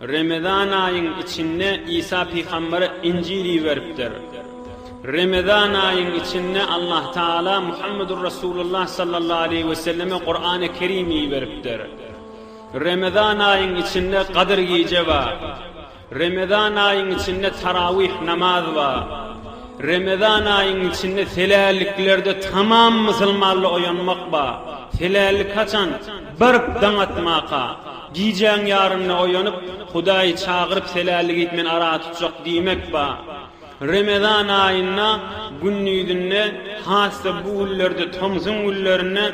Remezan aýyň içinde Isa pygambere Injil iberipdir. Remezan aýyň içinde Allah Taala Muhammedur Resulullah sallallahu aleýhi we selleme Kur'an-y Kerim iberipdir. Remezan aýyň içinde Gadyr gije bar. Remezan aýyň içinde Tarawih namaz bar. Remezan aýyň içinde seläliklerde tamam musulmanly oýanmak bar. Selälik haçan? Baryp daň atmaka. Gijäň ýarynda oýanyp, Hudaýy çagyryp seläligip men ara tutjak diýmek ba. Remezan aýynda gündizinde, has-da bu günlerde tomsuň günlerinde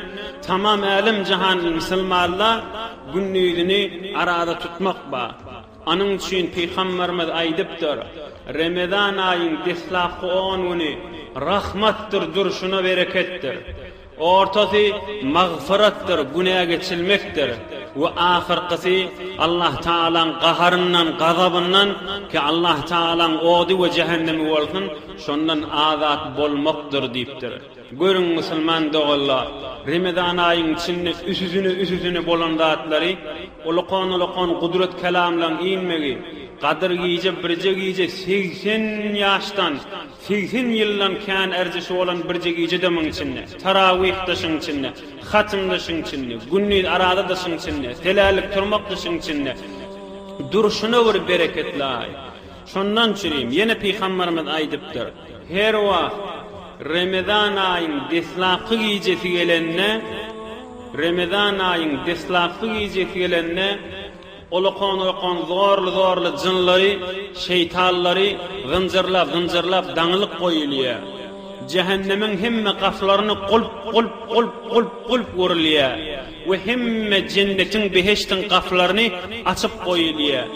tamam älem-jahan mysylmalla gündizini arada tutmak ba. Onuň üçin Pygamberimiz aýdypdyr, Remezan aýyň deslapky on güni rahmatdyr durşuna bereketdir. Ortasy magfyratdyr, günä geçilmekdir, we ahyrkysy Allah Tagalaň gaharyndan, gazabyndan, ki Allah Tagalaň ody we jähennemi bolsun, şondan azat bolmakdyr diýipdir. Görüň, musulman doganlar, Remezan aýyň içinde üsüsine-üsüsine bolan zatlary, ulakan-ulakan gudrat kelamlaryň inmegi, gadyr gije, birje gije segsen ýaşdan, Segsen ýyldan kän erdişi bolan birje gije dymyň içinde, tarawih dyşyň içinde, hatym dyşyň içinde, gündiz araza dyşyň içinde, selärlik turmak dyşyň içinde durşuna bir bereketlaý. Şondan çürim, ýene Pygamberimiz aýdypdyr, Her wagt Remezan aýyň deslapky gijesi gelende, Remezan aýyň deslapky gijesi gelende, Ol okan-okan zorly-zorly jynlary, şeýtanlary zynjyrlap-zynjyrlap daňylyp goýulýar. Jähennemiň hemme gapylaryny gulp, gulp, gulp, gulp, gulp urulýar we hemme jennetiň, behiştiň gapylaryny açyp goýulýar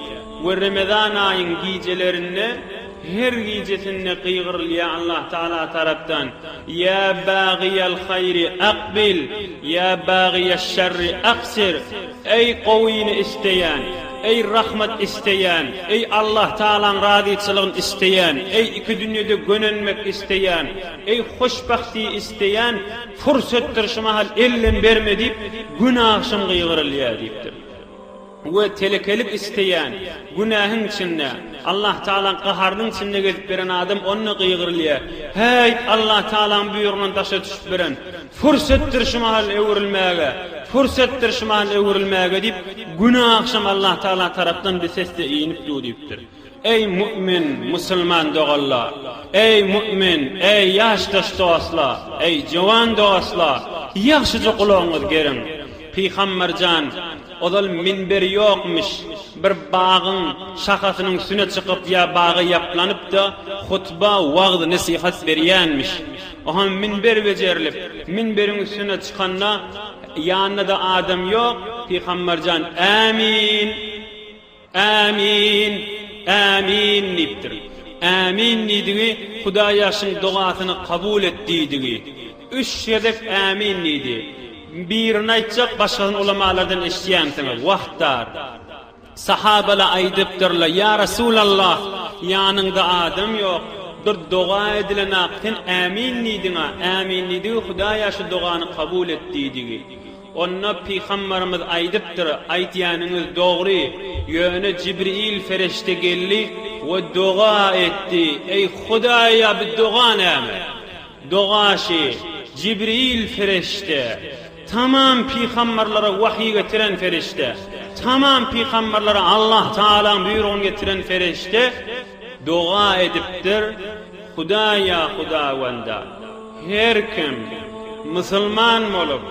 we Remezan aýyň gijelerinde her gijesinde gygyrylýar Allah Tagala tarapdan, Ýa bagyýal haýry akbil, ýa bagyýaş şerri aksir! Eý gowyny isleýän, eý rahmat isleýän, eý Allahtagalaň razyçylygyn isleýän, eý iki dünýede gönenmek isleýän, eý hoşbahti isleýän pursatdyr şu mahal ellem berme diýip Gün agşam gygyrylýar diýipdir. We telekelik isleýän, günähiň içinde, Allahtagalaň gaharynyň içinde gezip ýören adam onda gygyrylýar, Häý Allahtagalaň buýrugyna daşa düşüp biren, Pürsetdir şumal öwrülmäge, pürsetdir şumal öwrülmäge diýip, güni agşam Allahtagala tarapdan bir sesde inip du diýipdir. Eý, mu'min, musulman doganlar! Eý, mu'min, eý, ýaşdaş dostlar, eý, jowan dostlar, ýagşyja gulagyňyz geriň! Pygamber jan, ozal minberi ýokmuş, bir bagyň şahasynyň üstüne çykyp ýa bagy ýaplanyp-da, hutba, wagz-nesihat berýänmiş. Oha minber bejerilip, minberiň üstüne çykanda, ýanynda-da adam ýok, Pygambar jan, Ämin! Ämin! Ämin! diýipdir. Ämin diýdigi, Hudaý ýaşyň dogasyny kabul et diýdigi. Üç gezek Ämin diýdi. Birini aýtjak, başgasyny ulamalardan eşidýänsiňiz. Wah dar. Sahabalar aýdypdyrlar, Ýa Resulallah, ýanyňda adam ýok, bir doga edilenok, sen Ämin diýdiň-ä, Ämin diýdigi Hudaý-a şu dogany kabul et diýdigi. Onda Pygamberimiz aýdypdyr, Aýtýanyňyz dogry, ýöne Jibril ferişde geldi we doga etdi, Eý Hudaý-a bu doga näme? Doga şi, Jibril ferişde, Tamam pygamberlere wahyý getiren perişde, tamam pygamberlere Allah Tagalaň buýrugyny getiren perişde doga edipdir, Hudaýa Hudawanda, her kim musulman bolup,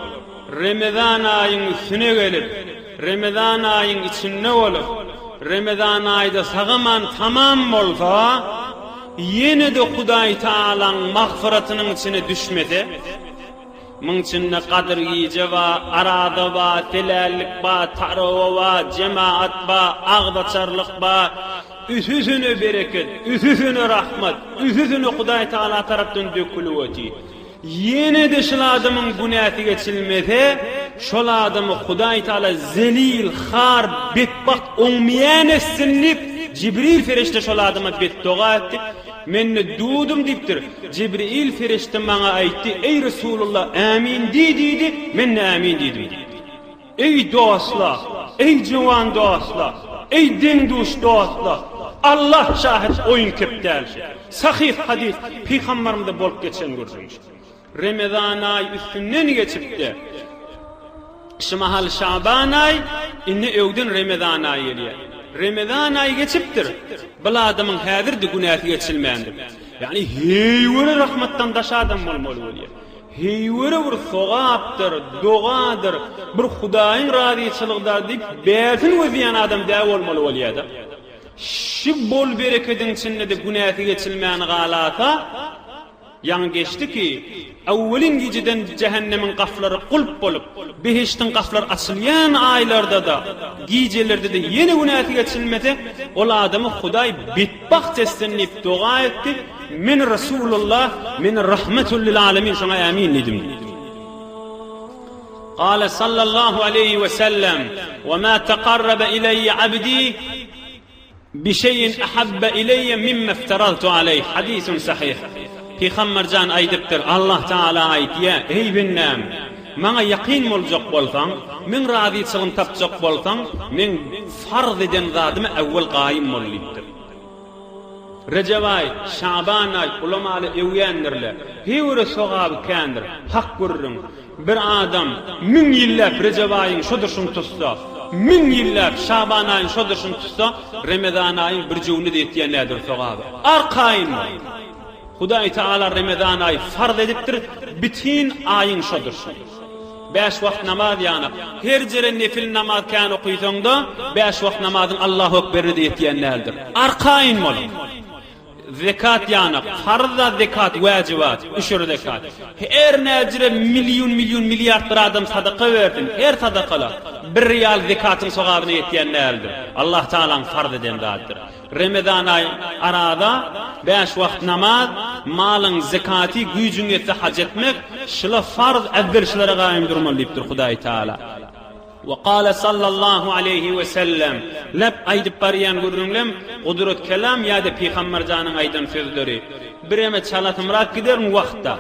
Remezan aýyň üstüne gelip, Remezan aýyň içinde bolup, Remezan aýda sagaman tamam bolsa, ýene-de Hudaý Tagalaň magfyratynyň içine düşmese, Muň içinde Gadyr gije ba, Arada ba, Telällik ba, Tarawa ba, Jemaat ba, Agzaçarlyk ba. Üsüsüne bereket, üsüsüne rahmat, üsüsüne Hudaý Tagala tarapdan dökülip oty. Ýene-de şul adamyň günäsi geçilmese, şol adamy Hudaý Tagala zelil, har, betbagt, oňmyýan etsin diýip, Jibril perişde şol adama betdoga etdi. Men-de dudum diýipdir. Jibril perişde maňa aýtdy, Eý Resulalla, Ämin diý diýdi, men-de Ämin diýdim diýipdir. Eý dostlar, eý jöwan dostlar, eý deň-duş dostlar, Allah şahit oýun-kep däl şu. Sahyh hadys, Pygambarymyzda bolup geçen gürrüň şu. Remezan aýy üstünden geçipdi. Şu mahal Şaban aýy, indi öwden Remezan aýy gelýär. Remezan aýy geçipdir. Bul adamyň häzir-de günäsi geçilmändir. Ýagny heýwere rahmatdan daş adam bolmaly bolýar. Heýwere bir sogapdyr, dogadyr, bir Hudaýyň razyçylygydar diýip bärsin gözýän adam dä bolmaly bolýar-da. Şu bol-berekediň içinde-de günäsi geçilmän galasa, Ýaňy geçdi ki, Awwelin gijeden jähennemiň gaflary gulp bolup, behiştiň gaflary açylýan aýlarda-da, gijelerde-de ýene günäsi geçilmese, ol adamy Hudaý betbagt etsin diýip doga etdi, Men Resulullah, men Rahmetül lil alemin, şoňa ämin diýdim diýdi. Gale sallallahu aleýhi we sellem, Wema taqarrabe ileýe abdi Bişeýin ahabbe ileýe mimme ifteraltu aleýh, hadysun sahyh. Pygamber jan aýdypdyr, Allah Tagala aýtýa, Eý bendäm! Maňa ýakyn boljak bolsaň, meň razyçylygym tapjak bolsaň, meň farz eden zadyma äwwel gaýym bol diýipdir. Rejep aý, Şaban aý, ulamaly öwýändirler. Heýwere sogaby kändir. Hak gürrüň. Bir adam müň ýylläp Rejep aýyň şo durşuny tutsa, müň ýylläp Şaban aýyň şo durşuny tutsa, Remezan aýyň bir jüwni-de ýetýän nädür sogaby. Arkaýyn bol! Hudaý Tagala Remezan aýy farz edipdir, bitin aýyň şo durşuny. Bäş wagt namaz ýana, her jere nefil namaz kän okysaň-da, bäş wagt namazyň Allahu ekberini-de ýetýän däldir. Arkaýyn boluň! Zekat ýanak, farz zat zekat, wäjibat, üşür zekat. Her näjire million million milliard bir adam sadaka bersin, her sadakala, bir rial zekatyň sogabyna ýetýän däldir. Allah Tagalaň farz eden zadydyr. Remezan aýy, araza, bäş wagt namaz, malyň zekaty, güýjüň ýetse haj etmek, şula farz, äwwel şulara gaýym durmaly diýipdir Hudaý Tagala. Ve kâle sallallahu aleyhi ve sellem, Näp aýdyp barýan gürrüňlem, Gudrat kelam ýa-da Pygamber janyň aýdan sözleri. Bireme çalasymrak giderin wagtda,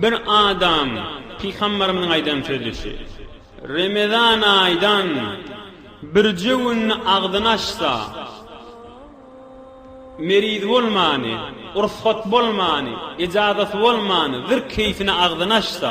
bir adam Pygamberimiziň aýdan sözi şu, Remezan aýdan birje günde agzyny açsa, meriz bolmany, ursgat bolmany, ejazasy bolmany, zir keýfine agzyny açsa,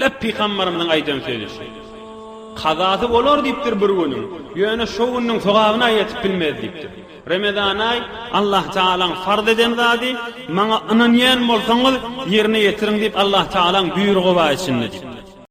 Lep pygambarymyzyň aýdan sözi şu. Kazasy bolar diýipdir bir günüň, ýöne şo günüň sogabyna ýetip bilmez diýipdir. Remezanaý, Allah Tagalaň farz eden zady, maňa ynanýan bolsaňyz, ýerine ýetiriň diýip Allah Tagalaň buýrugy bar içinde diýipdir.